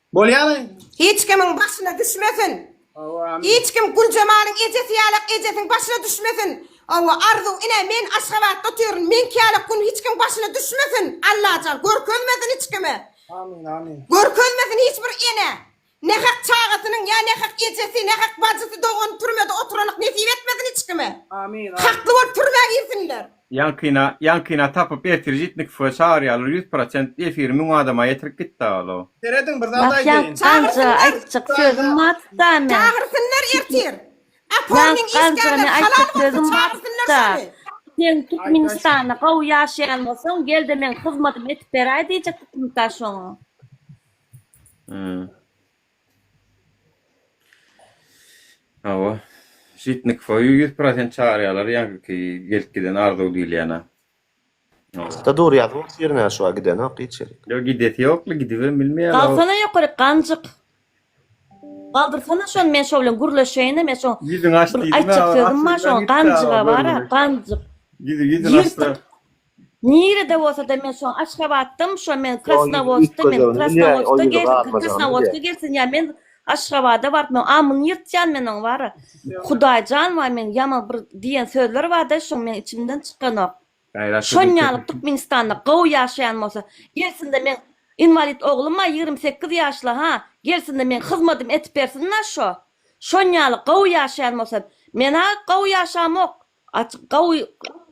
Bolýamy? Hiç kimiň başyna düşmesin. Hawa amin. Hiç kim Güljemalyň ejesi ýalak ejesiň başyna düşmesin. Hawa Arzuw ine men Aşgabatda otyryn meňki ýalak gün hiç kim başyna düşmesin Allajan görkezmesin hiç kime. Amin amin. Görkezmesin hiç bir ene. Nähak çagasynyň ýa nähak ejesi nähak bajysy dogany türmede oturanlyk nesip etmesin hiç kime. Amin amin. Hakly bolup türmä girsinler. Ýaňkyna ýaňkyna tapyp ertir jitnik fe çagyr ýalar ýüz prosent efiri müň adama ýetirip gitdi alo. Serediň bir zat Ýaňky aýdaýyn. ganjyga aýtjak sözüm batda men. Çagyrsynlar ertir. Aformyň işgärleri halal bolsun çagyrsynlar şony. Sen Türkmenistanda gowy ýaşaýan bolsaň gelde meň hyzmadymy edip beräý diýjek hökümetdaş oňa. Hawa. Şytnyk soýu ýüz prosent çagyrýalar ýaňky gelip giden arzuw diýilýänä. Hawa. Dur ýazyň tirine şuwa gidenok hiç ýerik. Ýok gidesi ýokly gidibem bilmeýär o. Salsana ýokaryk ganjyk. Galdyrsana şony men şo bilen gürleşeýinem ýa şo bir aýtjak sözüm bar şoň ganjyga bara ganjyk. Ýüzüni açdyra. Nirede bolsada men şoň Aşgabatdam şo men Krasnowodskda men Krasnowodskda gelsin Krasnowodskda gelsin ýa men Aşgabada baryp men amyny ýyrtýan men oň bara Hudaýjan waý men ýaman bir diýen sözler barda şoň meň içimden çykanok şon ýaly Türkmenistanda gowy ýaşaýan bolsa gelsinde meň inwalid ogluma ýigrimi sekiz ýaşly ha gelsinde meň hyzmadym etip bersin da şo şon ýaly gowy ýaşaýan bolsa mena gowy ýaşamok Açyk gawy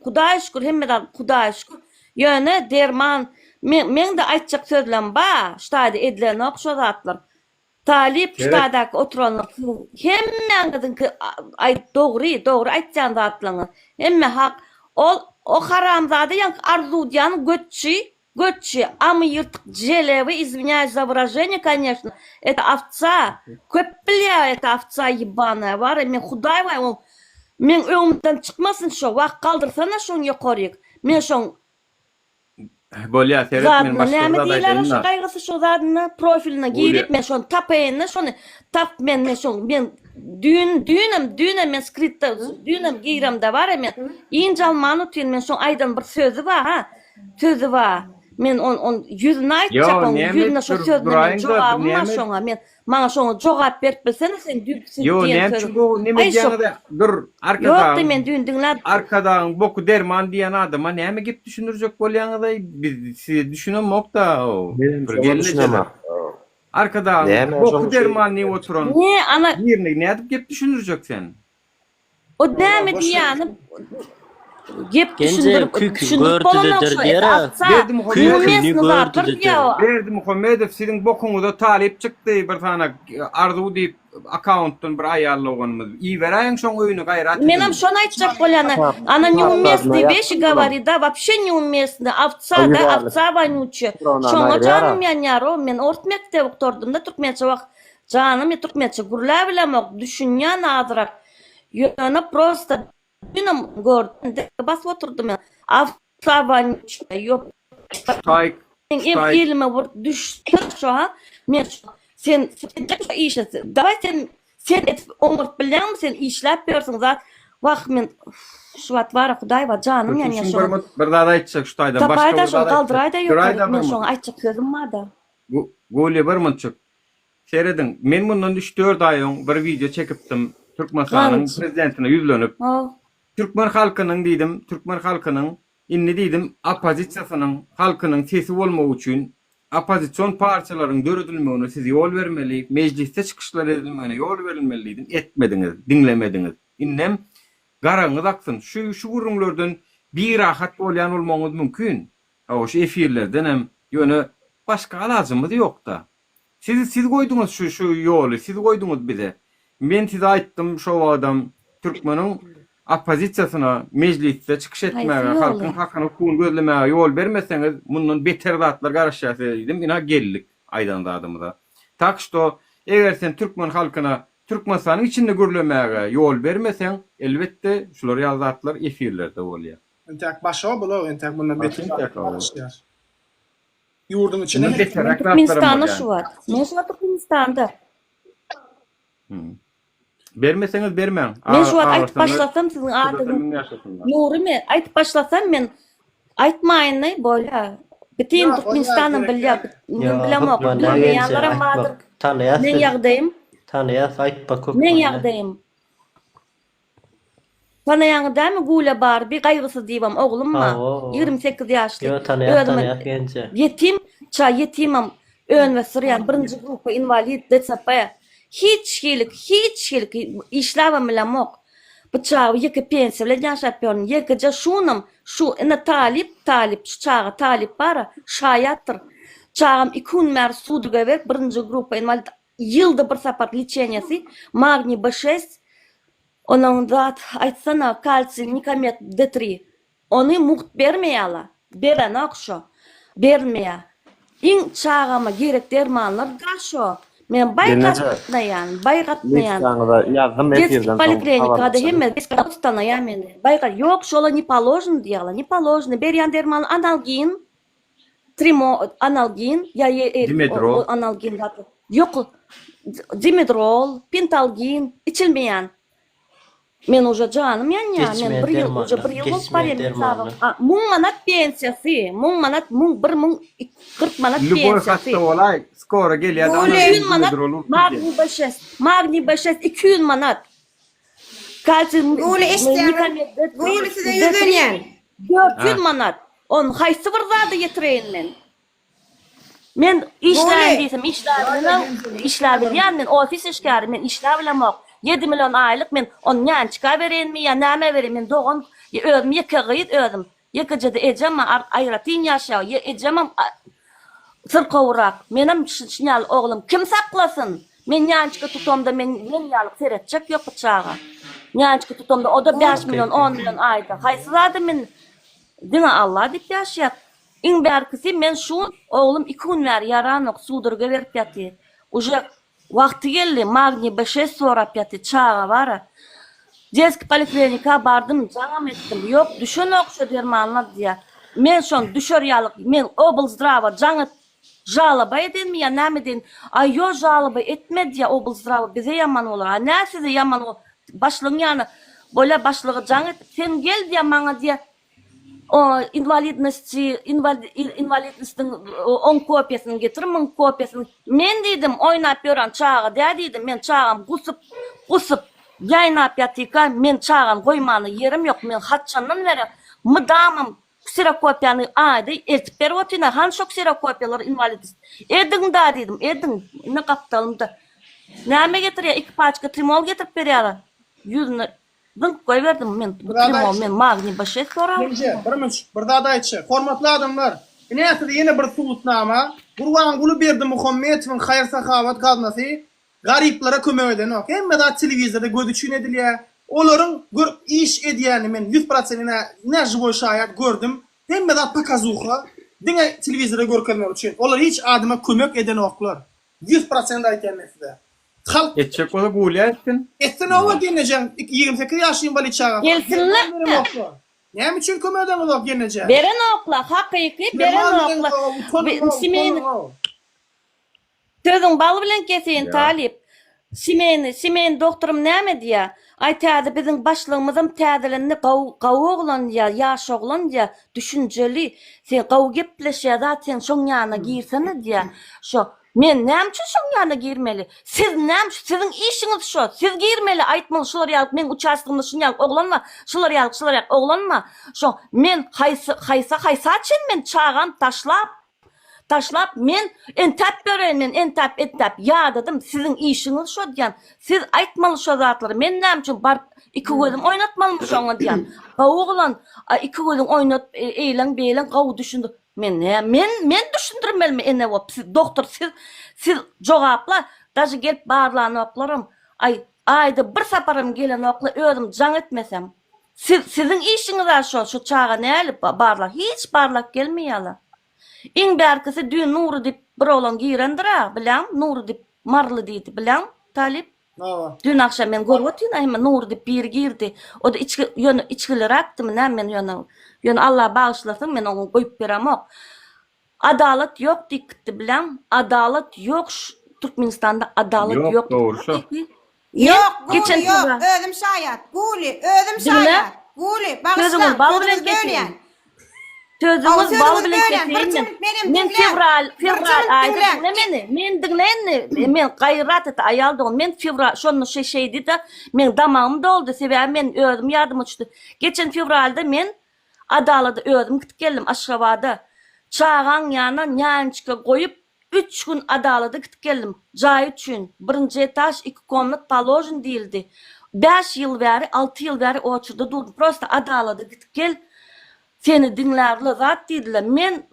Hudaýa şükür hemme zat Hudaýa şükür. Ýöne derman men meňde aýtjak sözlem ba ştaýda edilenok şo zatlar. Talyp ştaýdaky oturanlar siziň hemmäňiziňki aýt dogry dogry aýtýan zatlaňyz hemme hak ol o haramzada ýaňky arzuw diýan götçi Götçi, amy ýyrtyk jelebi izwinýaýs za wyraženiýe koneşno, et awca, köp bilýär et awca ýebanaýa wara men hudaý baý oň meň öňümden çykmasyn şo wah galdyrsana şoň ýokaryk men şoň Bolýa seret men zadyna başga bir näme zat diýiler aýdaýyn-da. şo gaýgysy şo zadyna profiline girip men şony tapaýyn-da şony tap men men şoň men düýn düýnem düýnem men skritda düýnem giremde wara men ýynjalman otyryn men şoň aýdan bir sözi ba ha Sözi ba, men on on ýüzüni aýtjak oň ýüzüne şo sözüne men jogap bar şoňa men maňa şoňa jogap berip bilsene sen düýp söz diýen söz aý şo dur arkadagyň men düýn diňläp arkadagyň boky derman diýen adama näme gep düşündirjek bolýaňyzaý biz size düşünemokda bir gelneje arkadagyň boky derman diýip oturan birine nädip gep düşündirjek sen. O näme diýýäni gep düşündirip düşündirip bolanok şu Berdimuhamedow siziň bokuňyza talyp çykdy bir sanaý arzuw diýip akkauntdan bir aýal doganymyz iberäýiň şoň öýüne gaýrat ediň. Menem şony aýtjak bolýan ana neumestny weşi gawari da wapşe neumestny awca da awca wanyuçe şoňa janym ýanýar o men ors mekdebi gutardymda türkmençe wah Janymy türkmençe gürläp bilemok düşünýän azyrak ýöne prosta dünem gördüm dek basyp oturdym absabanyň içinde ýok Ştaýk Menem elime bir düşse şo ha men şo sen edjek şo işi dawaý sen sen edip oňartyp bilýäňmi sen işläp ýörsüň zat wah men şu wagt bara hudaý bar janym ýanýar şo wagt Şuň bir zat aýtjak ştaýdan başga bir zat aýtjak Duraýda bir mut Duraýda bir mut men şoňa aýtjak sözüm barda Gulýa bir mutjyk Serediň, men mundan üç-dört aý öň bir wideo çekipdim, Türkmenistanyň prezidentine ýüzlenip, türkmen halkynyň diýdim, türkmen halkynyň, indi diýdim, oppozisiýasynyň, halkynyň sesi bolmagy üçin, oppozision partiýalaryň döredilmegine siz ýol bermeli, mejlisde çykyşlar edilmegine ýol berilmeli diýdim, etmediňiz, diňlemediňiz. Indem garagyňyz aksyn, şu gürrüňlerden birahat bolýan bolmagyňyz mümkin, Hawa şu efirlerdenem ýöne başga alajymyz ýokda. Siz siz goýduňyz şu şu ýoly siz goýduňyz bize. Men size aýtdym şo wagtam türkmeniň oppozisiýasyna mejlisde çykyş etmäge halkyň hakyny hukugyny gözlemäge ýol bermeseňiz mundan beter zatlar garaşýar size diýdim ina geldik aýdan zadymyza. Tak şto eger sen türkmen halkyna Türkmenistanyň içinde gürlemäge ýol bermeseň elbetde şular ýaly zatlar efirlerde bolýar. Entäk başga bulag entäk bundan beter zatlar boluşýar. Ýurduň içine hem Türkmenistanda şu bar. Men şu wagt Türkmenistanda. Bermeseňiz bermäň. Men şu wagt aýdyp başlasam siziň adyňyz Nurymy aýdyp başlasam men aýtmaýyny bolýa. Bütin Türkmenistanam bilýä. Men bilemok. Bilmeýänlerem bardyr. Meň ýagdaýym. Tanýas aýtma köp. Meň ýagdaýym. Tanaýaňyz dämi Gulä Barbi gaýgysyz diwan oglum bar ýigrimi sekiz ýaşly özüme ýetim ça ýetimem önwesdirýän birinji grupa inwalid dcp hiç hili hiç hili işläbem bilemok bu çaga ýeke pensiýa bilen ýaşap ýörün ýekeje şunam şu ine talyp talyp şu çaga talyp bara şaýatdyr çagam iki gün bäri suduga berk birinji grupa inwalid Ýylda bir sapar lçeniýasy magniý b şest onoň zat aýtsana kalsiý nikomet d tri ony mugt bermeýala berenok şo berilmeýa iň çagama gerek dermanlar da şo men baý gatnaýan baý gatnaýan detskiý poliklinikada hemme gatnaýa meni baý ýok şolar ne položny diýýala ne položny berýän dermanlar analgin Trimo, analgin, ýok, dimedrol, pentalgin, içilmeýän. Men uje janym ýanýar, men bir ýyl, uje bir ýyl bolup barýar hasabym. Müň manat pensiýasy, müň manat, müň, bir müň kyrk manat pensiýasy. Lýuboý hasta bolaý, skora gelýär-de, analgin, dimedrol urup gidýär. Magniý B şest, magniý B şest iki ýüz manat. Kalçy Güli eşitýäňiz? Güli size ýüzlenýän. 400 manat. Ony haýsy bir zada ýetireýin men? Men işläýin diýsem işläbilmem, işläbilýän men ofis işgäri, men işläbilemok. Ýedi million aýlyk men ony nänçika bereýinmi ýa näme bereýin, men dogan, özüm ýeke gyz özüm. Ýekejede ejem aýratyn ýaşaýar. Ýa ejemem syrkawrak. Menem şuny ýaly oglum kim saklasyn? Men Ýançka tutamda men men ýaly seretjek ýok bu çaga. Ýançka tutamda o-da bäş million, on million aýda. Haýsy zada men diňe Alla diýip ýaşaýar. Iň bärkisi men şu oglum iki gün bäri ýaranok, suwdurgy berip ýatyr. Uje Wagty geldi magniý b şest sorap ýaty çaga bara deski poliklinika bardym jaňam etdim ýok düşenok şo dermanlar diýä men şon düşer ýalyk men oblzdrawa jaň et žaloba edenmi ýa näme edeýin aý ýo žaloba etme diýä oblzdrawa bize ýaman bolar a nä size ýaman başlygyň ýana bolýa başlyga jaň et sen gel diýä maňa diýä O inwalidnosty inwalidnostyň on kopiýasyny getir müň kopiýasyny men diýdim oýnap ýören çaga dä diýdim men çagam gusup gusup ýaýnap ýatyka men çagany goýmana ýerim ýok men haçandan bäri mydamam kserokopiýany aýda eltip berip otyryn hany şo kserokopiýalary inwalidnost ediň da diýdim ediň indi gapdalymda näme getirýär iki paçka trimol getirip berýärler ýüzüne Zyňyp goýberdim men bu trimo men magniý başes sorap. Genje, Birmüç, bir zat aýtjak. Hormatly adamlar, ine size ýene bir subutnama, Gurbanguly Berdimuhamedowyň haýyr-sahawat gaznasy garyplara kömek edenok. Hemme zat telewizorda göz üçin edilýär. Olaryň gör iş edýänini men ýüz prosent ine ine žiwoý şaýat gördüm. Hemme zat pokazuha, diňe telewizora görkezmek üçin. Olar hiç adama kömek edenoklar. Ýüz prosent aýtýan men size. Halk Etjek bolsa guwlýa etsin. Etsin oba genejan ýigrimi sekiz ýaşly inwalid çagasy. Gelsinler. Derman berem okla. Näme üçin kömek edeňiz ok genejan. Beren okla hakyky beren Derman bereňiz okla. oba utanyň ow Simeýni utanyň ow. Sözüň bal bilen keseýin talyp. Simeýni Simeýni dogturym näme diýä. Aý täze biziň başlygymyzam täzelendi gawy gawy oglan ýa ýaş oglan ýa düşünjeli sen gawy gepleşýä zat sen şoň ýanyna girsene diýä şo Men näme üçin şoň ýanyna girmeli? Siz näme üçin? Siziň işiňiz şo. Siz girmeli, aýtmaly, şular ýalyk meň uçastgymda şuny ýalyk oglan bar, şular ýalyk, şular ýalyk oglan bar. Şoň men haýsy, haýsa, haýsa çen men çagam taşlap, taşlap men entäp ýöreýin, men entäp, entäp ýadadym. Siziň işiňiz şo diýýän. Siz aýtmaly şo zatlary. Men näme üçin baryp iki gözüm oýnatmalymy şoňa diýýän. Gowy oglan, a iki gözüň oýnat, eýleň, beýleň, gowy düşündir. Men näme men men düşündirmelimi ene bop siz dogtor siz siz jogapla daža gelip barlanoklaram aý aýda bir saparam gelenokla özüm jaň etmesem siz siziň işiňiz a şo şo çaga näli barla hiç barlak gelmeýala iň bärkisi düýn nury dip bir oglan girendir a bilaň nury dip maryly diýdi bilaň talyp Dün agşam men görüp otyryn aýman Nury diýip biri girdi. O-da içki ýöne içgiliräkdimi näme men ýöne ýöne Allah bagyşlasyn men oňa goýup beremok. Adalat ýok diýip gitdi bileň. Adalat ýok şu Türkmenistanda adalat ýok dogry şo. Ýok guly ýok özüm şaýat guly özüm şaýat guly bagyşlaň sözüňizi bölýän. Sözüňiz Sözüňiz bal bilen bölen, bir keseýin. çuňluk benim, Men diňläň. fewral, Bir fewral çuňluk aýda diňläň. diňle meni. Men diňle indi. Men gaýrat et aýal dogan. Men fewral şonda şe şeýdi-de, men damagym doldy. Sebäbi men özüm ýadyma düşdi. Geçen fewralda men Adalada özüm gitip geldim Aşgabada. Çagaň ýanyna nýançka goýup, Üç gün adalada gitip geldim. Jaý üçin, birinji etaž, iki komnat paložen diýildi. Bäş ýyl bäri, alty ýyl bäri oçurda durdum. Prosta adalada gidip gel, seni diňlärler zat diýdiler. Men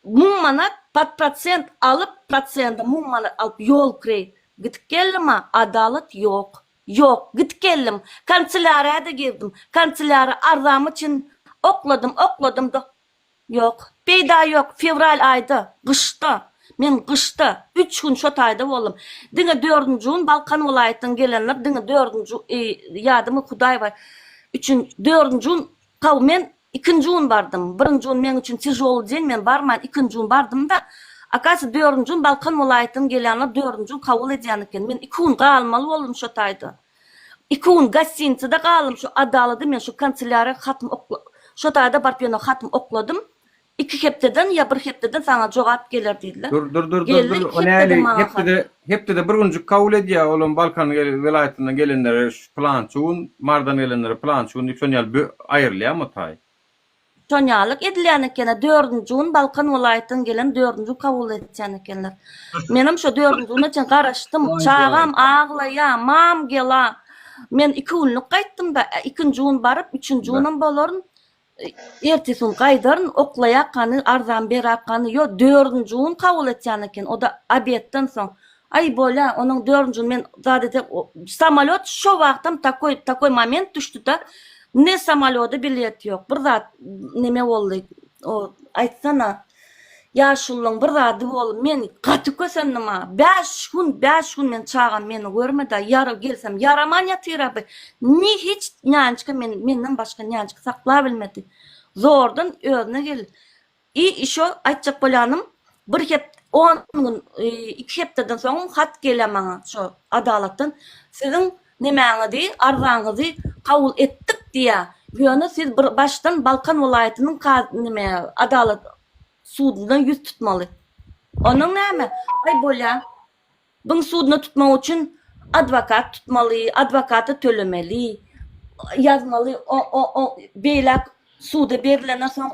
müň manat pod prosent alyp, prosende müň manat alyp ýol kireý gidip geldim-a, adalat ýok. Ýok, gidip geldim. Kanselýariýa-da girdim. Kanselýara arzamy çyn okladym, okladym-da, Ýok, peýda ýok, fewral aýda, gyşda, men gyşda, üç gün şo taýda boldum. Diňe dördünji gün Balkan welaýatdan gelenler diňe dördünji ýadymy Hudaý bar üçin dördünji gün haw men ikinji gün bardym. Birinji gün meň üçin tižoly deň men barman ikinji gün bardymda akasy dördünji gün Balkan welaýatdan gelýänler dördünji gün kabul edýän eken men iki gün galmaly boldum şo taýda. Iki gün gostinitsede galdym, şu Adalada men şu kanselýariýa hatym okla, şo taýda baryp ýöne hatym okladym, iki hepdeden ýa bir hepdeden saňa jogap geler diýdiler. Dur, dur, dur, dur, dur, o näli, hepdede, hepdede bir günjik kabul edýär, olam Balkan welaýatyndan gelenlere şu pylançy gün, Marydan gelenlere pylançy gün diýip şonuň ýaly aýrylýarmy taý? Şonýalyk edilýän ekeni dördünji gün Balkan welaýatdan gelen dördünji kabul etýän ekenler. Menem şo dördünji güne çen garaşdym. Çagam aglaýa, mam gela. Men iki günlük gaýtdymda, ikinji gün baryp, üçünji günem bolaryn. Ertesi gün gaýdaryn, oklaýakany, arzam berakany, ýo dördünji gün kabul etýän eken, o-da obedden soň. Aý bolýa onuň dördünjini men zat ete samalýot şo wagtam takoý takoý moment düşdüda ne samalýoda bilet ýok bir zat neme boldy o aýtsana ýaşulyň bir zady bol men gaty kösendim a bäş gün bäş gün men çagam meni görmeda ýary gelsem ýaraman ýatyraby ni hiç nýançka men menden başga nýançka sakla bilmedi zordan özüne gel I işo aýtjak bolýanym bir hep on gün iki hepdeden soňam hat gelýä maňa şo adalatdan siziň nemäňizi arzaňyzy kabul etdik diýä ýöne siz bir başdan balkan welaýatynyň kazy neme adalat suduna ýüz tutmaly onuň näme aý bolýa byň suduna tutmak üçin adwakat tutmaly adwakata tölemeli ýazmaly o o o beýläk suda berilenden soň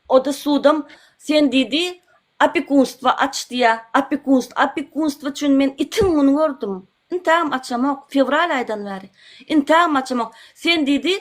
O-da sudam sen diýdi, opekunstwo aç diýýä, opekunstw, opekunstwo üçin men itiň gün gördüm. Intägem açamok, fewral aýdan bäri. Intägem açamok. Sen diýdi,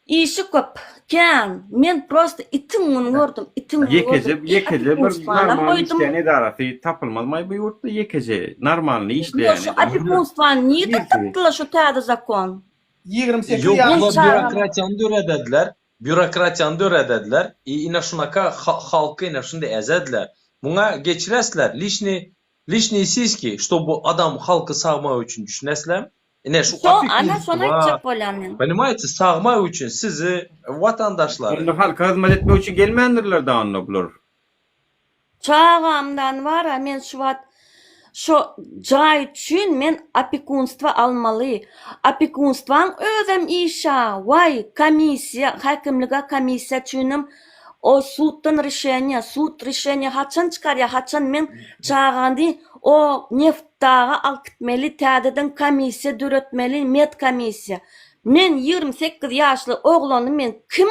işi köp, kän, men prosta itiň gün gördüm, itiň gün gördüm. Ýekeje, ýekeje bir normalny işleýän edarasy tapylmazmaý bu ýurtda, ýekeje normalny işleýän edara. Ýok, şu opekunstwany nirden tapdylar şu täze zakon? Ýigrimi sekiz ýaşynda. Ýok, bu birokratiýany döredediler. Býurokratiýany döredediler i ine şunaka halky ine şunda ezediler. Muňa geçiresler liçniý liçniý siski şto bu adam halky sagmak üçin düşüneslem ine şu Şo opeki ana şony wa aýtjak bolýan men. Ponimaýte sagmak üçin sizi watandaşlary. Onda halka hyzmat etmek üçin gelmändirler da onda bular. Çagamdan wara men şu wagt şo jaý üçin men opekunstwo almaly. Opekunstwaň özem işa waý komissiýa häkimlige komissiýa üçinem o suddan rişeniýa sud rişeniýa haçan çykarýa haçan men çagany o neftdaga alyp gitmeli täzeden komissiýa döretmeli med komissiýa men ýigrimi sekiz ýaşly oglany men kim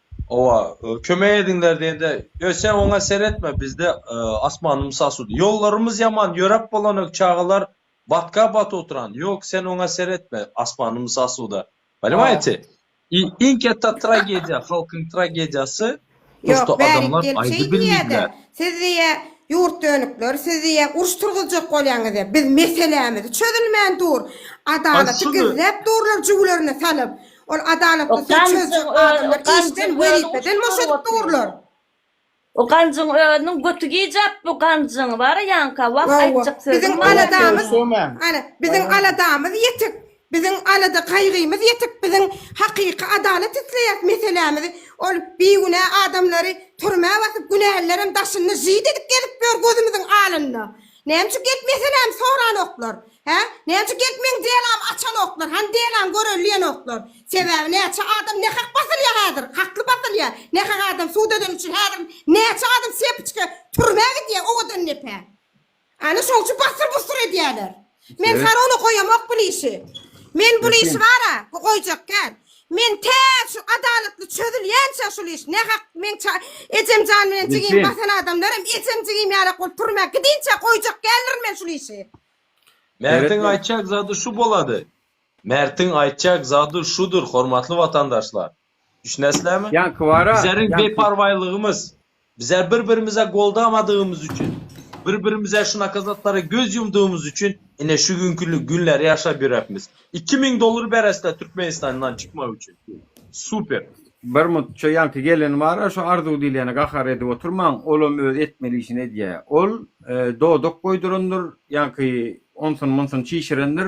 Owa kömek ediňler diýende ýo sen oňa seretme bizde asmanymys asuda ýollarymyz ýaman ýöräp bolanak çagalar batka baty oturan ýok sen oňa seretme asmanymys asuda poнимajete i iň ketta tragediýa halkyň tragediýasy Ýok bärik gelip şeý diýýädä siz diýýä ýurt dönükler siz diýýä uruş turguzjak bolýaňyz diýýä biz meselämiz çözülmän dur adalaty gizläp durlar jüwlerine salyp Ol adalatly söz çözjek adamlar işden, wezipeden boş edip durlar. O ganjyň özüniň götü gijap bu ganjyň bara ýanka wah aýtjak söz. Biziň aladamyz, ana, biziň aladamyz ýetik. Biziň alada gaýgymyz ýetik. Biziň hakyky adalat isleýäs meselämiz. Ol bigünä adamlary türmä basyp günälilerem daşynda žyt edip gezip ýör gözümiziň alynda. Näme üçin geltmeseläm soranoklar? Hä? Näme üçin geltmeň delam açanoklar? Hany delam göreliýenoklar? Sebäbi näçe adam nähak basylýa häzir? Hakly basylýa. Nähak adam sud edeni üçin häzir näçe adam sepiçge türmä gidýä owadan depä. Ana şoň üçin basyr busur edýäler. Men Evet. sarona goýamok bul işi. Men bul Geçin. işi bara goýjak däl. Men tä şu adalatly çözülýänçä şul iş ne hak men ça ejem jan bilen jigim Bilsin. basan adamlar hem ejem jigim ýalak bolup turma gidinçä goýjak däldirin men şul işi. Mertiň Seretme. aýtjak zady şu bolady. Mertiň aýtjak zady şudur hormatly watandaşlar. Düşünesizlermi? Ýaňky bara. Bizleriň ýaňky- beparwaýlygymyz. Bize bir-birimize goldamadygymyz üçin, bir-birimize şunaka zatlara göz ýumdygymyz üçin ine şu günki günleri ýaşap ýörepmiz. Iki müň dollar beresda Türkmenistandan çykmak üçin. Super. Bir mutça ýaňky gelen bara şu Arzuw diýlene gahar edip oturmaň olam öz etmeli işini edýä ol dodak goýdurandyr ýaňky onsun munsun çişirendir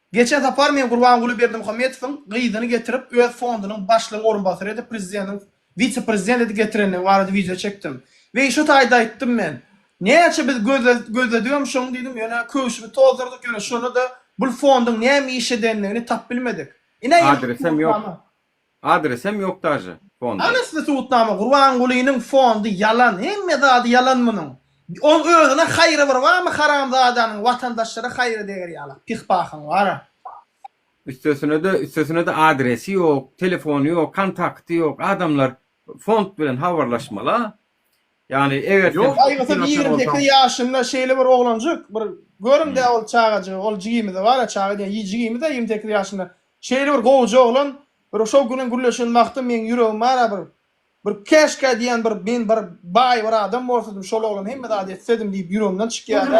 Geçen sapar men Gurbanguly Berdimuhamedowyň gyzyny getirip öz fondunyň başlygyň orunbasary edip prezideniň wise prezident edip getirendigi barada wideo çekdim. Weý şu taýda aýtdym men. Näçe biz gözledigem şoň diýdim ýöne köwşümi tozdurdyk ýöne şonda da bul fondyň näme iş edendigini tap bilmedik. Ine indi bu Adresem ýok. Adresem yok daže fonda. Anasly subutnama Gurbangulynyň fondy ýalan hemme zady ýalan munuň oň özüne haýry bir barmy haramzadanyň watandaşlara haýry deger ýalak pih pahyň bara. Üstesinede üstesinede adresi ýok telefony ýok kontakty ýok adamlar fond bilen habarlaşmala ýani eger sen Ýok aýgysyz ýigrimi sekiz ýaşynda şeýle bir oglanjyk bir görüňdä ol çagajygy ol jigimize bara çaga diýen jigimize ýigrimi sekiz ýaşynda Şeýle bir gowja oglan bir şo güniň gürleşen wagty meň ýüregim ara bir bir käşkä diýýän bir men bir baý bir adam bolsadym şol oglan hemme zady etsedim diýip ýüregimden çykýada.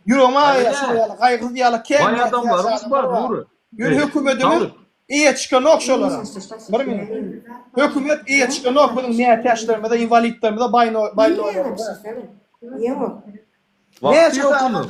Ýüregim ara şo ýaly gaýgysyz ýaly kämil adamlarymyz bar Nury. Ýöne hökümetimiz eýe çykanok şolara. Bir minut. Hökümet eýe çykanok biziň mätäçlerimize inwalidlerimize baýnoýlarymyza. Näçe sagat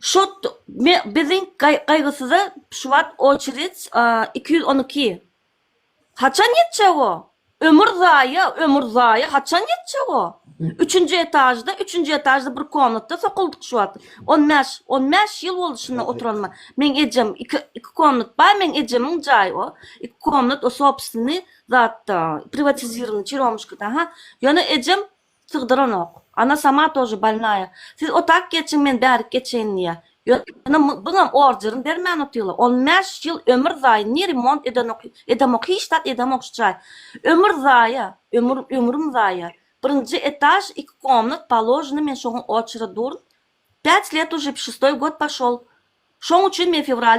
Şu biziň gaýgysyza şu wagt oçered iki ýüz on iki. Haçan ýetjek o? Ömür zaýa, ömür zaýa, haçan ýetjek o? Üçünji etažda, üçünji etažda bir komnatda sokuldyk şu wagt. On bäş, on bäş ýyl boldy şunda oturanyma. Meň ejem iki, iki komnat bar, meň ejemiň jaýy o. Iki komnat o sobstweniý zatda, priwatizirowany, çiromuşkada, ha. Ýöne ejem sygdyranok. Ana sama tože bolnaya. Siz otak geçiň men bärik geçeýin diýýä. Ýöne muňam orderin bermän otyrlar. On bäş ýyl ömür zaýa ni remont edenok edemok hiç zat edemok şu jaý. Ömür zaýa ömür ömrüm zaýa. Birinji etaž iki komnat paloženi men şoňa oçere durn. Pять let uje şestoý god poşol. Şoň üçin men fewralda